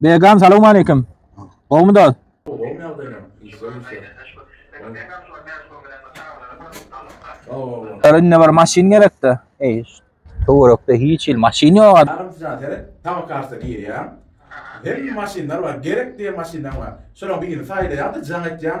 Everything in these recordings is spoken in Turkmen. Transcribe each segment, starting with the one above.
Begam salowmaleýkim. Gowmy dost? Indi bir maşyn gerekdi. Eý, töwerekde hiç hil maşyn ýok. Adam üçin seret, tabakarsa girýär. Hemme maşynlar bar, gerek diýen maşynlar bar. Şolaryň birini saýlaýaň-da, jaň etýäň.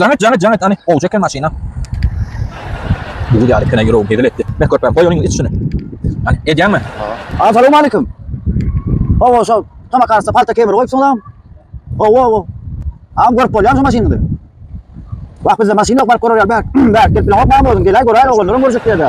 Jaňet jaňet jaňet ani gowja eken maşyna. Bugul ýaly kene ýüregim hezil etdi. Beh körpem goý onuň içini. Ani edýäňmi? Aa salam aleyküm. Owo şo tamak arasynda palta kemir goýupsyňyzam. Owo owo. Am görüp bolýarmy şu maşynyňyzy? Wah bizde maşyn ýok baryp görerýär bäh. Bäh gelip bileňok maňa özüň geläý göräýeli oglanlaram görjek ýerde.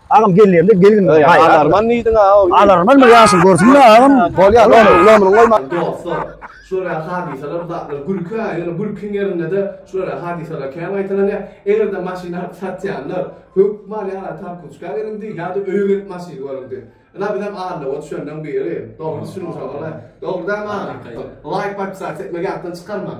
Agam gelýärde gelin. Alarman diýdiň ha. Alarman bir ýaşyl görsün ya agam. Bolýar, lomrun, lomrun goýma. Dostlar, şulara hadysalar zatlar gülki ha, ýöne gülkiň ýerinde-de şulara hadysalar kän gaýtalanýar. Eger-de maşyn alyp satýanlar, hökman ýa-da Tarkuçka geliňdi, ýa-da öýe gelip maşyn görüňdi. Ynha bizem Arlaba düşenden biri, dogry düşünmüşem, dogry dälmi agam? Laýk, podpisasiýa etmegi ýatdan çykarmaň.